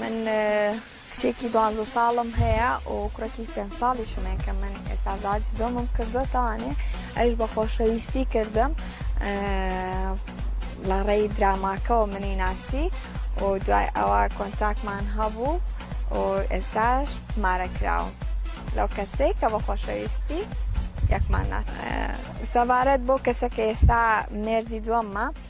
من کچێکی دوانزە ساڵم هەیە و کوڕێکی پێنج ساڵیشم هەیە کە من ئێستا زاج دۆمم کردووە تاوانێ ئەوش بە خۆشەویستی کردم لە ڕێی دراماکەەوە منی ناسی و دوای ئەوە کۆنتاکمان هەبوو و ئێستاش مارە کراوە لەو کەسەی کە بە خۆشەویستی یەکمان نات سەبارەت بۆ کەسەکە ئێستا مێردی دووەممە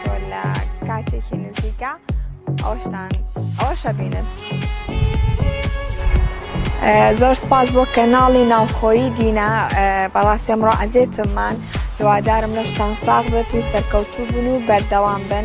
تۆ لە کاتێکی نزیکە ئەوشتان ئەوشە بینن. زۆر سپاس بۆ کەناڵی ناوخۆیی دینا بەڕاستێ مڕۆ عزێتممان هیوادارم لەشتان ساغ بێت و سەرکەوتوو بن و بەردەوام بن